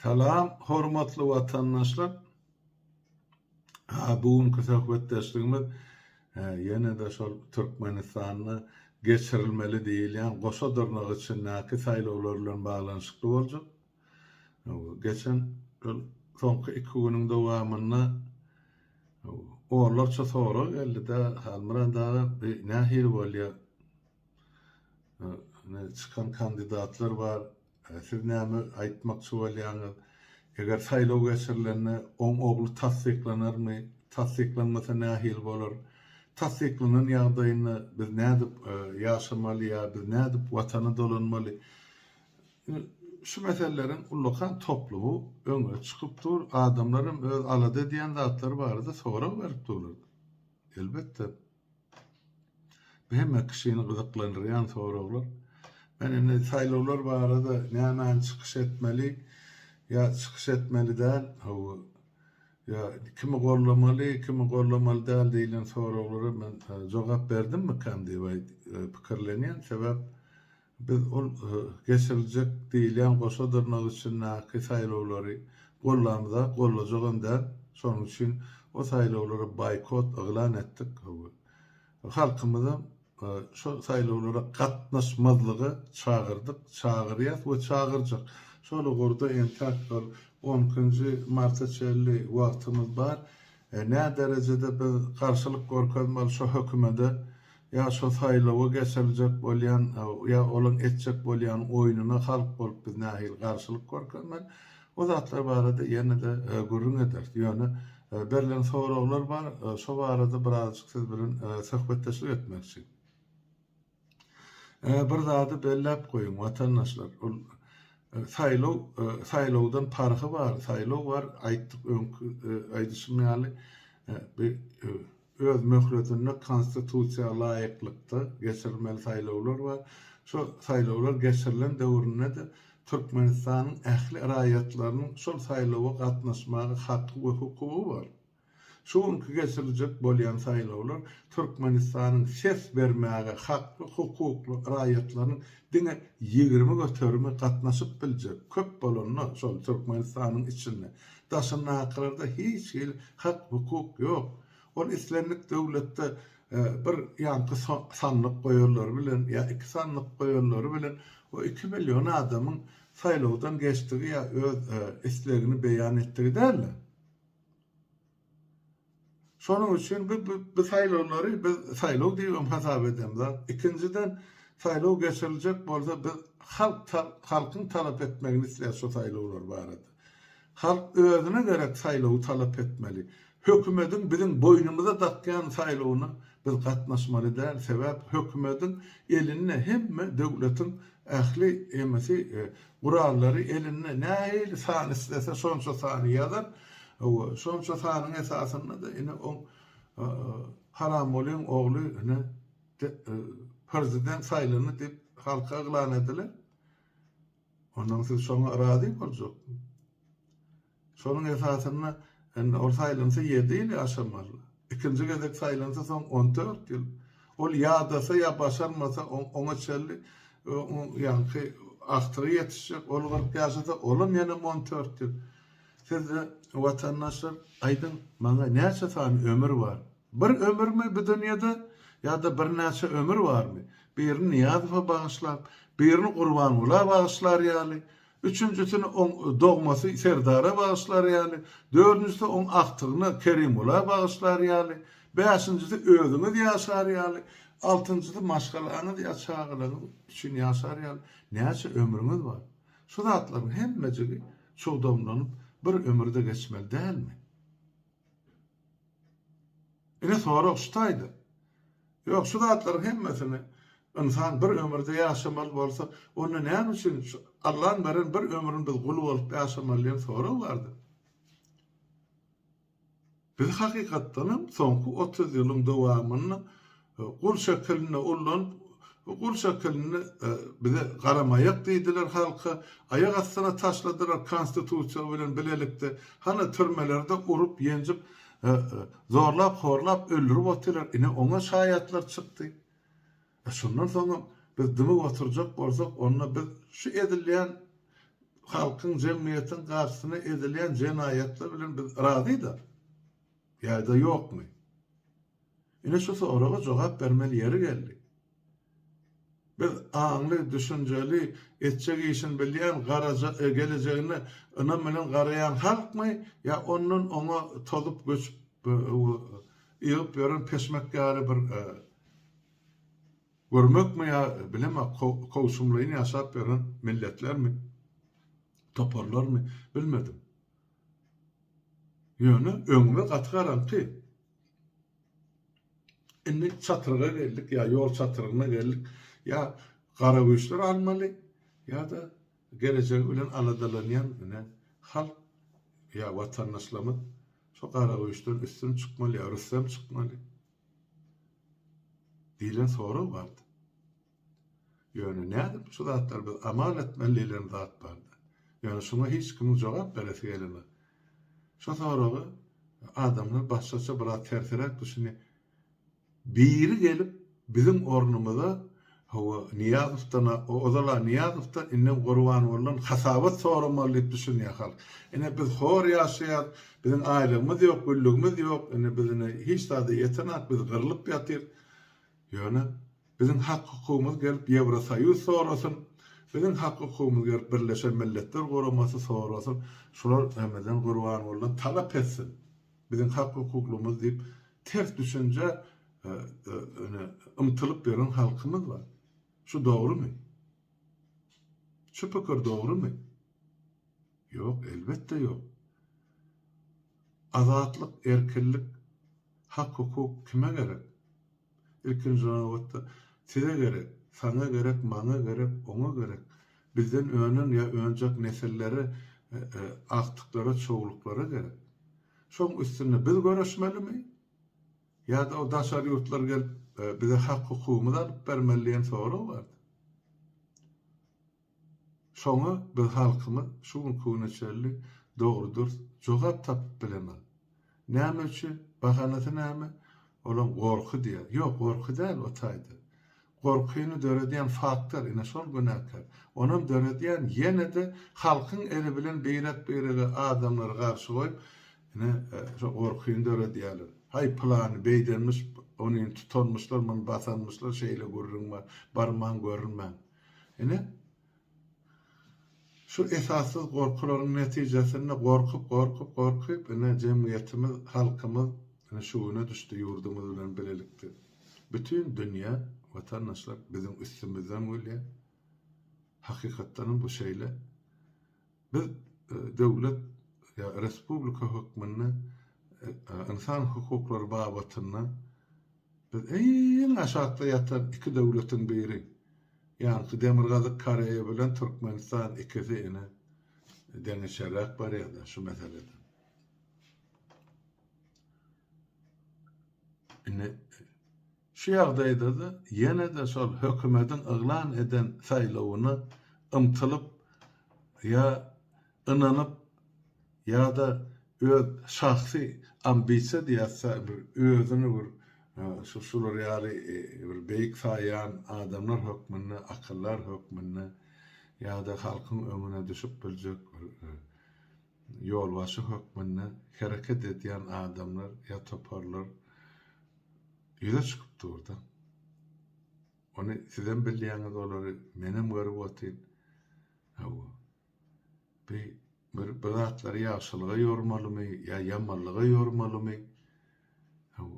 Salam hormatly watandaşlar. Bu günki söhbetdeşligimiz ýene-de şol Türkmenistanda geçirilmeli diýilýän goşa dyrnak içindäki saýlawlar bilen baglanyşykly boljak. Geçen soňky iki günüň dowamynda onlarça sorag geldi-de, Halmyrat aga, bu nähili bolýar? Çykan kandidatlar bar. Siz näme aýtmakçy bolýaňyz? Eger saýlaw geçirilende oň ogly tassyklanarmy? Tassyklanmasa nähili bolar? Tassyklanan ýagdaýynda biz nädip ýaşamaly ýa biz nädip watana dolanmaly? Şu meseleleriň ullakan toplumy öňe çykyp dur. Adamlar hem öz alada edýän zatlary barada sorag berip durlar. Elbetde. Bu hemme kişini gyzyklandyrýan soraglar. Men indi saýlawlar barada nämäni çykyş etmeli ýa çykyş etmeli däl, hawa, ýa kimi gollamaly, kimi gollamaly däl diýlen soraglara men jogap berdimmikäm diýip pikirlenýän. Sebäp Biz ol geçiriljek diýilýän goşa dyrnak içindäki saýlawlary gollamyza, gollajagam däl. Şonuň üçin o saýlawlara boýkot yglan etdik. Halkymyzam şo saýlawlara gatnaşmazlyga çagyrdyk, çagyrýas we çagyrjak. Şol ugurda entäk bir on ikinji marta çenli wagtymyz bar. Näderejede biz garşylyk görkezmeli şo hökümede? Ýa şo saýlawa geçiriljek bolýan, ýa olaň etjek bolýan oýnuna halk bolup biz nähili garşylyk görkezmeli? O zatlar barada ýene-de gürrüň ederis. Ýöne berlen soraglar bar, şo barada birazjyk siz bilen söhbetdeşlik etmekçi. Bir zady belläp goýuň, watandaşlar, ol saýlaw, saýlawdan parhy bar, saýlaw bar, aýtdyk öňki aýdyşym ýaly, bi öz möhletinde Konstitusiýa laýyklykda geçirilmeli saýlawlar bar. Şu saýlawlar geçirilen döwründe-de Türkmenistanyň ähli raýatlarynyň şol saýlawa gatnaşmaga haky we hukugy bar. Şu günki geçiriljek bolýan saýlawlar Türkmenistanyň ses bermäge hakly, hukukly raýatlarynyň diňe ýigrimi göterimi gatnaşyp biljek, köp bolanda şol Türkmenistanyň içinde Daşyndakylarda hiç hili hak-hukuk ýok. Ol islendik döwletde bir ýaňky sandyk goýanlary bilen ýa iki sandyk goýanlary bilen o iki million adamyň saýlawdan geçdigi ýa öz islegini beýan etdigi däldir. Şonuň üçin biz bu saýlawlary biz saýlaw diýibem hasap edemzok. Ikinjiden, saýlaw geçiriljek bolsa, biz halk halkyň talap etmegini isleýäs şu saýlawlar barada. Halk özüne gerek saýlawy talap etmeli. Hökümediň biziň boýnumyza dakýan saýlawyna biz gatnaşmaly däl. Sebäp hökümediň elinde hemme döwletiň ähli emesi Gurallary elinde nähili san islese şonça sany ýazar, hawa, şonça sanyň esasynda-da ine oň Haramgulyň ogly ine prezident saýlandy diýip halka yglan ediler. Ondan siz şoňa razy boljak. Şonuň esasynda indi ol saýlansa ýedi ýyly aşamaly. Ikinji gezek saýlansa soň on dört ýyl. Ol ýadasa ýa başarmasa oňa çenli ýaňky agtygy ýetişjek. Ol kyrk ýaşasa olam ýene on dört ýyl. Siz watandaşlar aýdyň maňa näçe sany ömür bar? Bir ömürmi bu dünýede ýa-da birnäçe ömür barmy? Birini Nyýazowa bagyşlap, birini Gurbangula bagyşlar ýaly Üçünjisini oň dogmasy Serdara bagyşlar ýaly, dördünjisi oň agtygyna Kerimgula bagyşlar ýaly, bäşinjisi özüňiz ýaşar ýaly, altynjysy maşgalaňyz ýa çagalaryňyz üçin ýaşar ýaly näçe ömrüňiz bar? Şu zatlaryň hemmejigi çugdamlanyp bir ömürde geçmeli dälmi? Ine sorag şu taýda. Ýok şu zatlaryň hemmesini ynsan bir ömürde ýaşamaly bolsa onda näme üçin şu Allan beren bir ömrüni biz gul bolup ýaşamaly diýen sorag bardy. Biz hakykatdanam soňky otuz ýylyň dowamynda Gul şekilinde ullanyp, gul şekilinde bize garamaýak diýdiler halka, aýak astyna taşladylar konstitusiýa bilen bilelikde, hany türmelerde urup, ýenjip, zorlap, horlap, öldürip otylar, ine oňa şaýatlar çykdy. E şondan soňam biz dymyp oturjak bolsak, onda biz şu edilýän halkyň, jemgyýetiň garşysyna edilýän jenaýatlar bilen biz razy-da. Ýa-da ýokmy? Ine şu soraga jogap bermeli ýeri geldi. Biz aňly, düşünjeli, etjek işini bilýän, garaja, gelejegine ynam bilen garaýan halkmy ýa ondan oňa tozup göçüp ýygyp ýören peşmek ýaly bir görmekmi ýa bilemok kowşumlaýyn ýaşap ýören milletlermi, toparlarmy bilmedim. Ýöne öňüme gaty garaňky. Indi çatryga geldik, ýa ýol çatrygyna geldik. Ýa garagüýçler almaly, ýa-da gelejegi bilen aladalanýan ine halk ýa watandaşlarymyz şu garagüýçden üstün çykmaly ýa rüstem çykmaly diýlen sorag bardy. Ýöne nädip şu zatlar biz amal etmeli diýlen zat bardy. Ýöne şuňa hiç kimiň jogap beresi gelenok. Şu soraga adamlar başgaça biraz tersiräk düşünýär. Biri gelip biziň ornumyza hawa Nyýazowdan ozal-a Nyýazowdan indem Gurbangulydan hasabat soramaly diýip düşünýär halk. Ine biz hor ýaşaýas, biziň aýlygymyz ýok, güllügimiz ýok, indi biz indi hiç zada ýetenok, biz gyrlyp ýatyrys. Ýöne Biziň hak-hukugymyz gelip Ýewrosoýuz sorasyn, biziň hak-hukugymyz gelip Birleşen Milletler Guramasy sorasyn, şular Remezan Gurbangulydan talap etsin, biziň hak-hukuklymyz diýip ters düşünjä ymtylyp ýören halkymyz bar. Şu dogrumy? Şu pikir dogrumy? Ýok, elbetde ýok. Azatlyk, erkinlik, hak-hukuk kime gerek? Ilkinji nobatda, size gerek, saňa gerek, maňa gerek, oňa gerek, bizden önen ýa önjek nesillere, agtyklara, çowluklara gerek. Şoň üstünde biz göreşmelimi? Ýa-da o daşary ýurtlar gelip, bize hak-hukugymyzy alyp bermeli diýen sorag bardy. Şoňa biz halkymyz şu günki güne çenli dogry-dürs jogap tapyp bilemok. Näme üçin? Bahanasy näme? Olaň gorky diýýär. Ýok, gorky däl o taýda. Gorkyny döredýän faktor, ine şol günäkär. Onam döredýän ýene-de halkyň eli bilen birek-birege adamlary garşy goýup, ine, şo gorkyny döredýärler. Haý, pylany beýdenmiş, ony indi tutanmyşlar, muny basanmyşlar, şeýle gürrüň bar, barmaň görünmäň. Ine, şu esassyz gorkularyň netijesinde gorkup, gorkup, gorkup, ine, jemgyýetimiz, halkymyz, ine, şu güne düşdi, ýurdumyz bilen bilelikde bütin dünýä, watandaşlar biziň üstümizden gülýär. Hakykatdanam bu şeýle. Biz döwlet ýa respublika hökmünde ynsan hukuklary babatynda biz iň aşakda ýatan iki döwletiň biri. Ýaňky Demirgazyk Koreýa bilen Türkmenistan ikisi ine deňeçerräk barýada şu meselede. Indi Şu ýagdaýda-da ýene-de şol hökümediň yglan eden saýlawyna ymtylyp ýa ynanyp ýa-da öz şahsy ambisiýa diýýäs-ä bir özüni bir şu şular ýaly bir beýik saýýan adamlar hökmünde, akyldar hökmünde ýa-da halkyň öňüne düşüp biljek bir Ýolbaşçy hökmünde hereket edýän adamlar ýa toparlar ýüze çykyp dur-da. Ony sizem bilýäňiz olary, menem görüp otyryn. Hawa. Bi-bir bir zatlary ýagşylyga ýormalymy ýa ýamanlyga ýormalymy?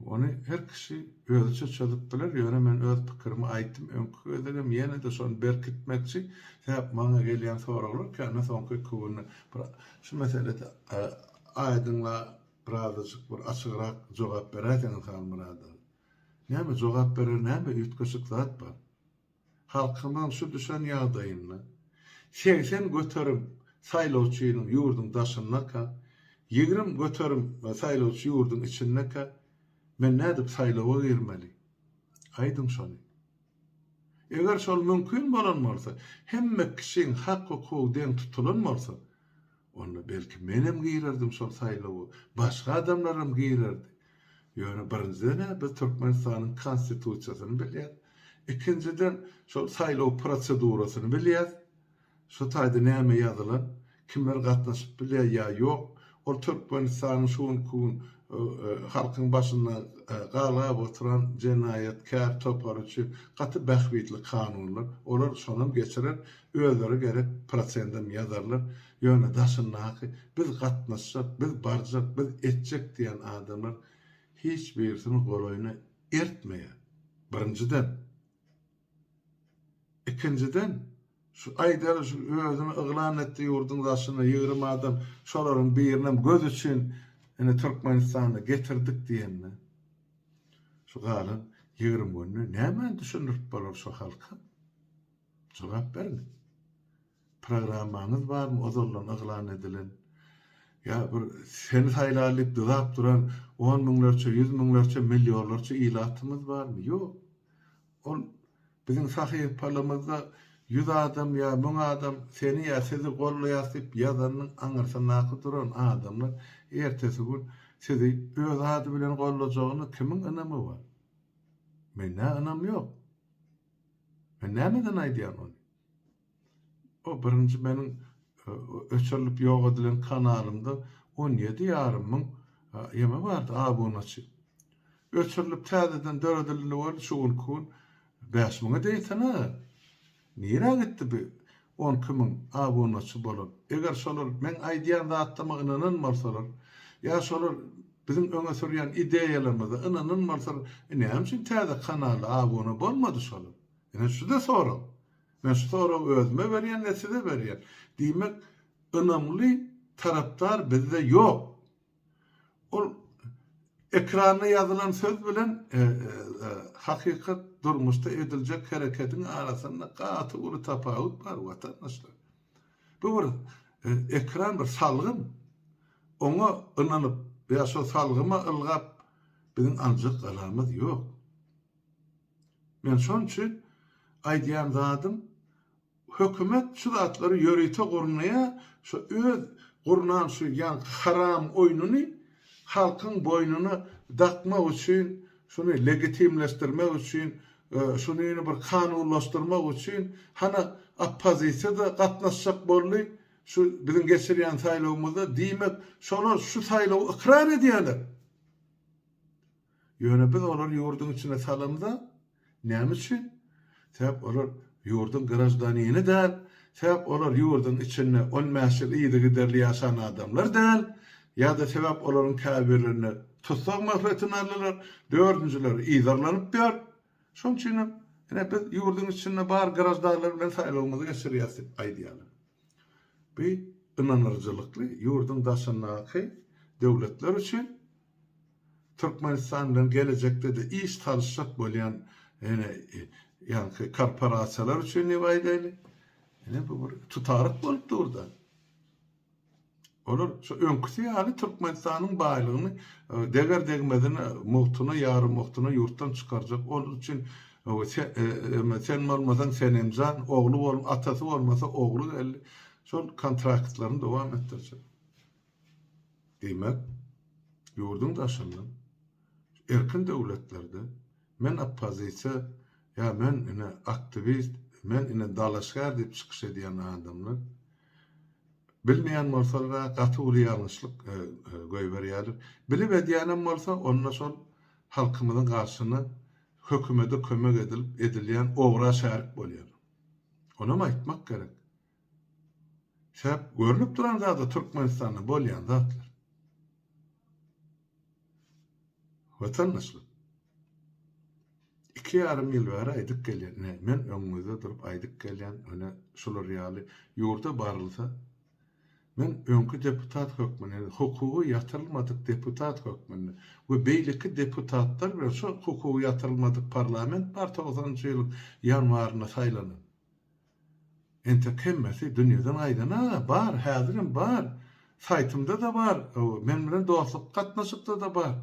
Ony her kişi özüçe çözüp biler, ýöne men öz pikirimi aýtdym, öňki gezegem ýene-de şony berkitmekçi, sebäp maňa gelýän soraglar kände soňky iki günde bir şu meselede aýdyňla birazajyk bir açygrak jogap beräýseňiz Halmyradow. Näme jogap berer näme üýtgeşik zat bar. halkymyň şu düşen ýagdaýynda segsen göterim saýlawçynyň ýurduň daşyndaka, ýigrimi göterim saýlawçy ýurduň içindaka men nädip saýlawa girmeli? Aýdyň şony. Eger şol mümkin bolan bolsa, hemme kişiň hak-hukugy deň tutulan bolsa, Onda belki menem girerdim şol saýlawa, başga adamlaram girerdi. Ýöne birinjiden-ä biz Türkmenistanyň Konstitusiýasyny bilýäs. Ikinjiden şol saýlaw prosedurasyny bilýäs. Şu taýda näme ýazylan, kimler gatnaşyp bilýär ýa ýok, ol Türkmenistanyň şu günki gün halkyň başynda galgap oturan jenaýatkär topary üçin gaty bähbitli kanunlar. Olar şonam geçirer. Özleri gerek prosendem ýazarlar, ýöne daşyndaky biz gatnaşjak, biz barjak, biz etjek diýen adamlar hiç birisini golaýyna ertmeýär. Birinjiden. Ikinjiden, şu aýdaly şu özüni yglan etdi ýurduň daşynda ýigrimi adam, şolaryň birinem göz üçin ine Türkmenistana getirdik diýende, şu galan ýigrimi günde nämeni düşündirip bolar şu halka? Jogap beriň. Programmaňyz barmy ozaldan yglan edilen? Ýa bir seni saýlaly diýip dyzap duran on müňlerçe, ýüz müňlerçe, millionlarça ilatymyz barmy? Ýok. Ol biziň sahypalymyzda ýüz adam ýa müň adam seni ýa sizi goldaýas diýip ýazanyň aňyrsyndaky duran adamlar ertesi gün sizi öz ady bilen goldajagyna kimiň ynamy bar? Mendä ynam ýok. Men nämeden aýdýan ony? O birinji meniň öçürilip ýok edilen kanalymda on ýedi ýarym müň ýeme bardy, abunaçy. Öçürilip täzeden döredildi, şu günki gün bäş müňe deýsene. Nirä gitdi bu? on iki müň, abunaçy bolar. Eger şolar meň aýdýan zatlaryma ynanan bolsalar, ýa şolar biziň öňe sürýän ideýalarymyza ynanan bolsalar, e näme üçin täze kanala abuna bolmady şolar? Ine şu-da sorag. Men şu soragy özüme berýän we size berýän. Diýmek, ynamly tarapdar bizde ýok. Ol ekranda ýazylan söz bilen hakykat durmuşda ediljek herekediň arasynda gaty uly tapawut bar watandaşlar. Bu bir ekran bir salgym. Oňa ynanyp ýa şo salgyma ylgap biziň aljak galamyz ýok. Men şon üçin aýdýan zadym Hökümet şu zatlary ýörite gurnaýa şu öz gurnan şu ýaňky haram oýnuny halkyň boýnuna dakmak üçin şuny legitimleşdirmek üçin şunyny bir kanunlaşdyrmak üçin hana oppozisiýa da gatnaşjak boldy şu biziň geçirýän saýlawymyzda diýmek şolar şu saýlawy ykrar edýäler. Ýöne biz olary ýurduň içine salamyz-a. Näme üçin? Sebäp olar ýurduň graždanini däl, sebäp olar ýurduň içinde on bäş ýyl yzygiderli ýaşan adamlar däl, ýa-da sebäp olaryň käbirlerini tussag möhletine aldylar, dördünjileri yzarlanyp ýör. Şonuň üçin hem, ine, biz ýurduň içinde bar graždanlar bilen saýlawymyzy geçirýäris diýip aýdýarlar. Bu ynanyryjylykly, ýurduň daşyndaky döwletler üçin Türkmenistan bilen gelejekde-de iş salyşjak bolýan ýaňky korporasiýalar üçin diýip aýdaýly, ine bu bir tutaryk bolup dur-da. Olar şu öňküsi ýaly Türkmenistanyň baýlygyny deger-degmezine, mugtuna, ýarymugtuna ýurtdan çykarjak, olar üçin sen bolmasaň Senemjan, ogly atasy bolmasa ogly geldi, şol kontraktlaryny dowam etdirjek. Diýmek, ýurduň daşyndan, erkin döwletlerde men oppozisiýa, ýa men ine aktiwist, men ine dalaşgär diýip çykyş edýän adamlar, bilmeýän bolsalar-a gaty uly ýalňyşlyk goýberýärler. Bilip edýänem bolsa, onda şol halkymyzyň garşyna hökümede kömek edilip edilýän ogra şärik bolýar. Onam aýtmak gerek. Säp görnüp duran zada Türkmenistanda bolýan zatlar. Watandaşlar. Iki ýarym ýyl bäri aýdyp gelýän, ine men öňüňizde durup aýdyp gelýän, ine şular ýaly ýurda barylsa, men öňki deputat hökmünde, hukugy ýatyrylmadyk deputat hökmünde we beýleki deputatlar bilen şu hukugy ýatyrylmadyk parlament bar togsanynjy ýylyň ýanwarynda saýlanan. Entek hemmesi dünýeden gaýdana bar, häzirem bar. Saýtymda-da bar, men bilen dostlukly gatnaşykda-da bar.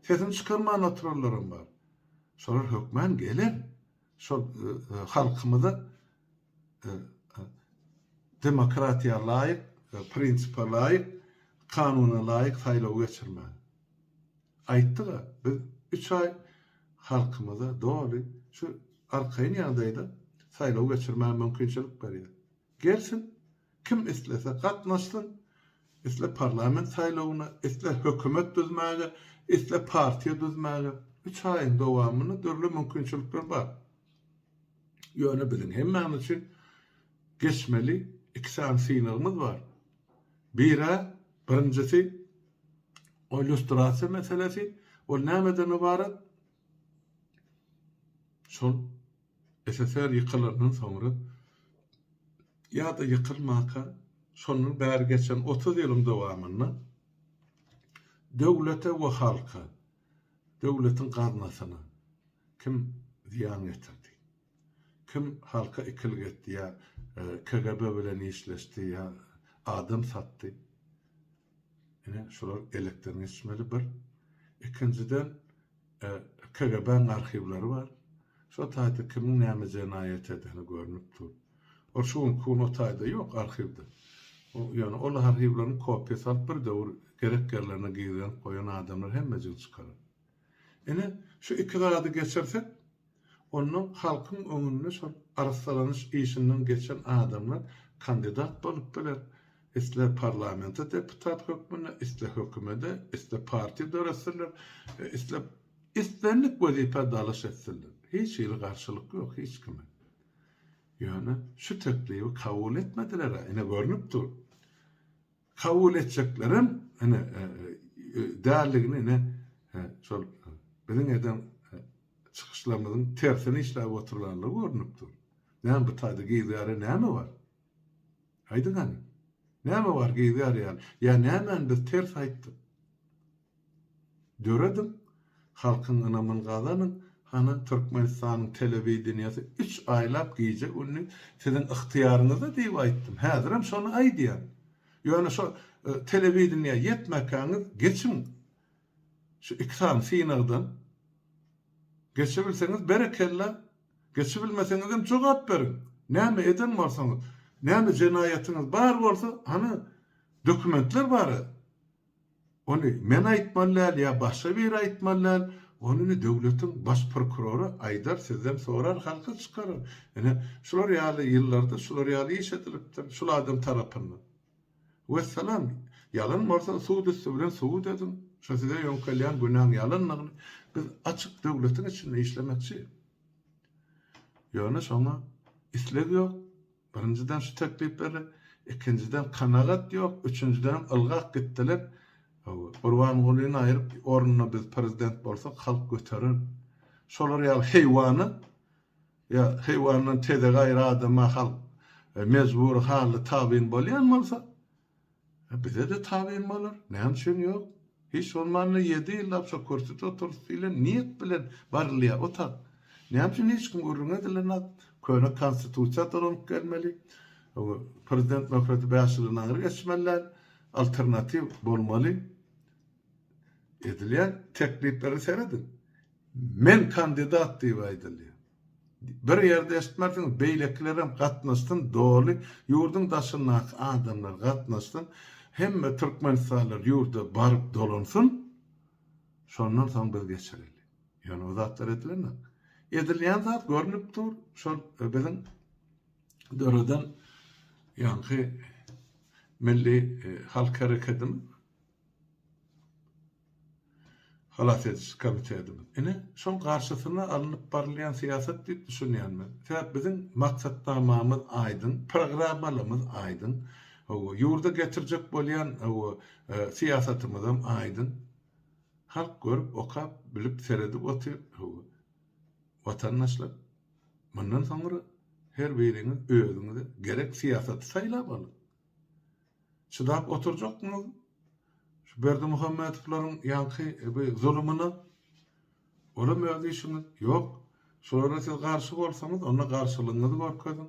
Sesini çykarman oturanlaram bar. Şolar hökmän geler. Şol halkymyza demokratiýa laýyk, prinsipe laýyk, kanuna laýyk saýlawy geçirmäge. Aýtdyga biz üç aý halkymyza doly şu arkaýyn ýagdaýda saýlaw geçirmäge mümkinçilik berýär. Gelsin, kim islese gatnaşsyn, isle parlament saýlawyna, isle hökümet düzmäge, isle partiýa düzmäge, üç aýyň dowamynda dürli mümkinçilikler bar. Ýöne biziň hemmämiz üçin geçmeli iki sany synagymyz bar. Bir-ä, birinjisi, O illýustrasiýa meselesi, ol nämeden ybarat? Şol SSR ýykylandan soňra ýa-da ýykylmanka, şondan bäri geçen otuz ýylyň dowamynda döwlete we halka, döwletiň gaznasyna kim zyýan ýetirdi? Kim halka ikilik etdi ýa KGB bilen işleşdi ýa adam satdy. Ine şular elekden geçmeli bir. Ikinjiden KGB-niň arhiwleri bar. Şo taýda kimiň näme jenaýat edeni görnüp dur. Ol şu günki gün o taýda ýok arhiwde. Ýöne ol arhiwleriň kopiýasy alyp bir döwür gerek ýerlerine gizlenip goýan adamlar hemmejigini çykarar. Ine şu iki zady geçirsek Onda halkyň öňünde şol arassalanyş işinden geçen adamlar kandidat bolup biler, isle parlamente deputat hökmünde, isle hökümede, isle partiýa döretsinler, isle islendik wezipä dalaş etsinler. Hiç hili garşylyk ýok hiç kime. Ýöne şu teklibi kabul etmediler-ä, ine görnüp dur. kabul etjeklerem ine däldigini ine şol biziň eden çykyşlarymyzyň tersine işläp oturlandygy görnüp dur. Näme bu taýda geýzgärä näme bar? Aýdyň hany. Näme bar geýzgär ýaly? Ýa nämäni biz ters aýtdyk? Dörediň, halkyň ynamyny gazanyň, hany Türkmenistanyň telewideniýesi üç aýlap gije-gündiz siziň ygtyýaryňyzda diýip aýtdym, häzirem şony aýdýan. Ýöne şo telewideniýä ýetmekäňiz geçiň şu iki sany synagdan. Geçibilseňiz berekella, geçibilmeseňizem jogap beriň. Näme eden bolsaňyz, näme jenaýatyňyz bar bolsa, hany dokumentler bar-a, Ony men aýtmaly däl ýa başga biri aýtmaly däl, ony indi döwletiň baş prokurory aýdar, sizden sorar, halka çykarar. Ine, şular ýaly ýyllarda şular ýaly iş edilipdir, şul adam tarapyndan. Wessalam. Ýalan bolsa sud üsti bilen subut ediň, şu size ýöňkelýän günäň ýalandygyny. Biz açyk döwletiň içinde işlemekçi. Ýöne şoňa isleg ýok. Birinjiden şu teklip berdi, ikinjiden kanagat ýok, üçünjidenem ylgap gitdiler. Gurbangulyny aýryp ornuna biz prezident bolsak halk göterer. Şolar ýaly heýwany ýa heýwandan tezek aýry adama halk mejbury hally tabyn bolýan bolsa, E bize-de tabyn bolar, näme üçin ýok? Hiç bolmanda ýedi ýyllap şo kürsüde oturys diýlen niýet bilen barylýar otag. Näme üçin hiç kim gürrüň edilenok? Köne konstitusiýa dolanyp gelmeli. Prezident möhleti bäş ýyly nary geçmeli däl. Alternatiw bolmaly. Edilýän teklipleri serediň. Men kandidat diýip aýdylýar. Bir ýerde eşitmersiňiz beýlekilerem gatnaşsyn doly ýurduň daşyndaky adamlar gatnaşsyn hemme türkmenistanlylar ýurda baryp dolansyn şondan soň biz geçireli ýöne bu zatlar edilenok edilýän zat görnüp dur şol biziň döreden ýaňky milli e, halk hereketimiz Halas ediji komitetimiz. Ine, şol garşysyna alnyp barylýan syýasat diýip düşünýän men. Sebäp biziň maksatnamamyz aýdyň, programmalymyz aýdyň, hawa, ýurda getirjek bolýan, hawa, syýasatymyzam aýdyň. Halk görüp, okap, bilip, seredip otyr, hawa. Watandaşlar, mundan soňra her biriňiz özüňize gerek syýasaty saýlap alyň. Çydap oturjakmyz şu Berdimuhamedowlaryň ýaňky bu zulumyna? Olam öz işiňiz. Ýok, şolara siz garşy bolsaňyz, onda garşylygyňyzy görkeziň.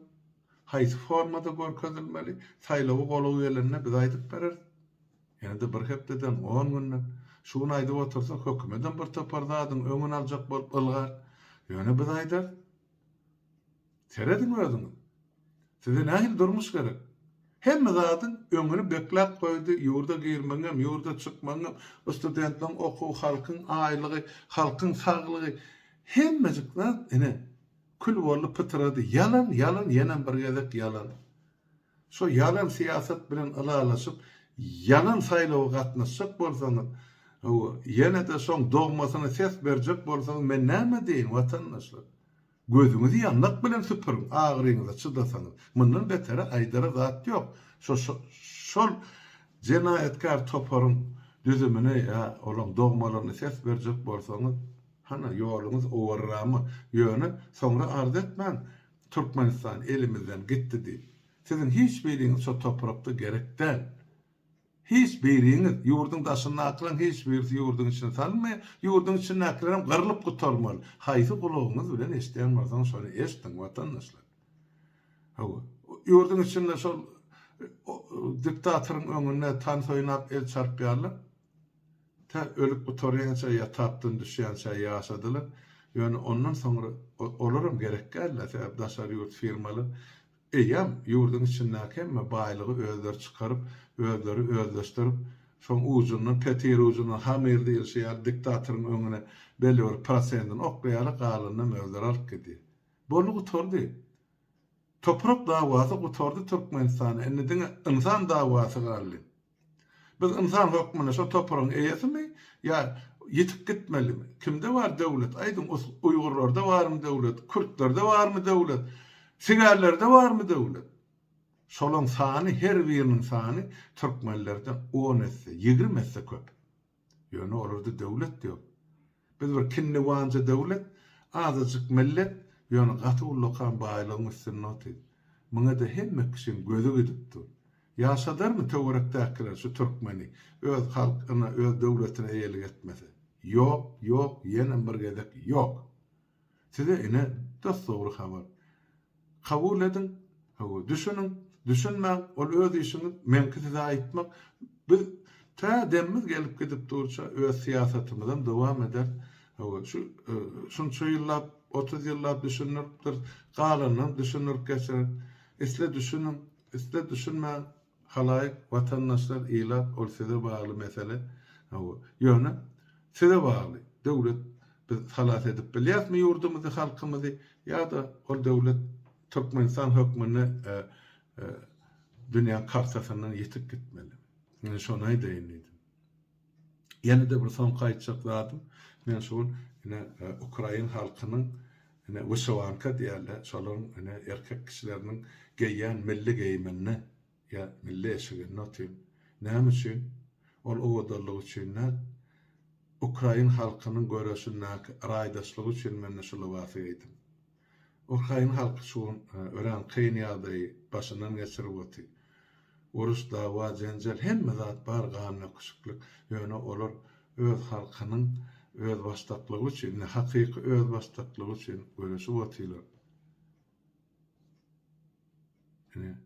Haýsy formada görkezilmeli? Saýlawa golaý gelende biz aýdyp bereris. Ýene-de bir hepdeden, on günden. Şu gün aýdyp otursa, hökümedem birtopar zadyň öňüni aljak bolup ylgar. Ýöne biz aýdarys. Serediň özüňiz. Size nähili durmuş gerek? Hemme zadyň öňüni bekläp goýdy, ýurda girmegiňem, ýurda çykmagyňam, bu studentleriň okuwy, halkyň aýlygy, halkyň saglygy, hemmejik zat, ine, kül boldy, pytrady. Ýalan, ýalan, ýenem bir gezek ýalan. Şo ýalan syýasat bilen ylalaşyp, ýalan saýlawa gatnaşjak bolsaňyz, hawa, ýene-de şoň dogmasyna ses berjek bolsaňyz, men näme diýin, watandaşlar? Gözüňizi ýandak bilen süpüriň, agyryňyza çydasaňyz. Mundan beteri aýdara zat ýok. Şo-şo-şol jenaýatkär toparyň düzümine ýa olaň dogmalaryna ses berjek bolsaňyz, hana, ýoluňyz owarramy? Ýöne soňra arz etmäň, Türkmenistan elimizden gitdi diýip. Siziň hiç biriňiz şo toprakda gerek däl. Hiç biriňiz, ýurduň daşyndakylaryň hiç birisi ýurduň içine salynmaý, ýurduň içindäkilerem gyrlyp gutarmaly. Haýsy gulagyňyz bilen eşidýän bolsaňyz şony eşdiň watandaşlar. Hawa, ýurduň içinde şol diktatoryň öňünde tans oýnap el çarpýarlar. Tä ölüp gutarýança ýa tapdan düşýänçä ýaşadylar. Ýöne ondan soňra olaram gerekgäl-le sebäbi daşary ýurt firmalar Eýýäm ýurduň içindäki hemme baýlygy özleri çykaryp, özleri özleşdirip, şoň ujundan, petir ujundan hamyr diýilşi ýaly diktatoryň öňüne belli bir prosendini oklaýarlar, galanynam özleri alyp gidýär. Boldy gutardy. Toprak dawasy gutardy Türkmenistanda, indi diňe ynsan dawasy galdy. Biz ynsan hökmünde şo topragyň eýesimi ýa ýitip gitmelimi? Kimde bar döwlet? Aýdyň, uýgurlarda barmy döwlet, kürtlerde barmy döwlet, sigärlerde barmy döwlet? Şolaň sany, her biriniň sany türkmenlerden on esse, ýigrimi esse köp. Ýöne olarda döwlet ýok. Biz bir kinniwanja döwlet, azajyk millet, ýöne gaty ullakan baýlygyň üstünde otyrys. Muňa-da hemme kişiň gözi gidip dur. Ýaşadarmy töwerekdäkiler şu türkmeni, öz halk-yna, öz döwletine eýelik etmese? Ýok, ýok, ýenem bir gezek ýok! Size ine dos-dogry habar. Kabul ediň, hawa, düşüniň, düşünmäň, ol öz işiňiz, meňki size aýtmak. Biz tä demimiz gelip gidip durça öz syýasatymyzam dowam ederis. Hawa, şu şunça ýyllap, otuz ýyllap düşündiripdiris, galanynam düşündirip geçeris. Isle düşüniň, isle düşünmäň. Halaýyk, watandaşlar, ilat ol size bagly mesele. Hawa. Ýöne size bagly. Döwlet biz halas edip bilýäsmi ýurdumyzy, halkymyzy ýa-da ol döwlet Türkmenistan hökmünde dünýäň kartasyndan ýitip gitmelimi? Men şony aýdaýyn diýdim. Ýene-de bir soňky aýtjak zadym, men şu gün ine ukrain halkynyň ine wyşewanka diýýärler, şolaryň ine erkek kişileriniň geýýän milli geýiminde, ýa milli eşiginde otyryn. Näme üçin? Ol owadanlyk üçin däl, ukrain halkynyň göreşindäki raýdaşlygy üçin men-de şu lybasy geýdim. Ukrain halky şu gün örän kyn ýagdaýy başyndan geçirip oty. Uruş, dawa, jenjel, hemme zat bar gandöküşiklik, ýöne olar öz halkynyň özbaşdaklygy üçin, indi hakyky özbaşdaklygy üçin göreşip otylar. Ine,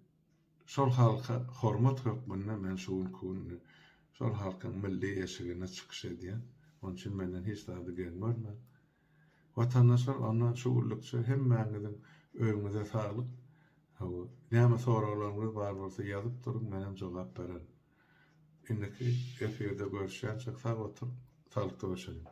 şol halka hormat hökmünde men şu günki gün şol halkyň milli eşigine çykyş edýän. Onuçin menden hiç zady geň görmäň. Watandaşlar ondan şu günlükçe hemmäňiziň öýüňize saglyk, hawa, näme soraglaryňyz bar bolsa ýazyp duruň menem jogap bererin. Indiki efirde görüşýänçäk sag oturyň, saglykda görşeliň.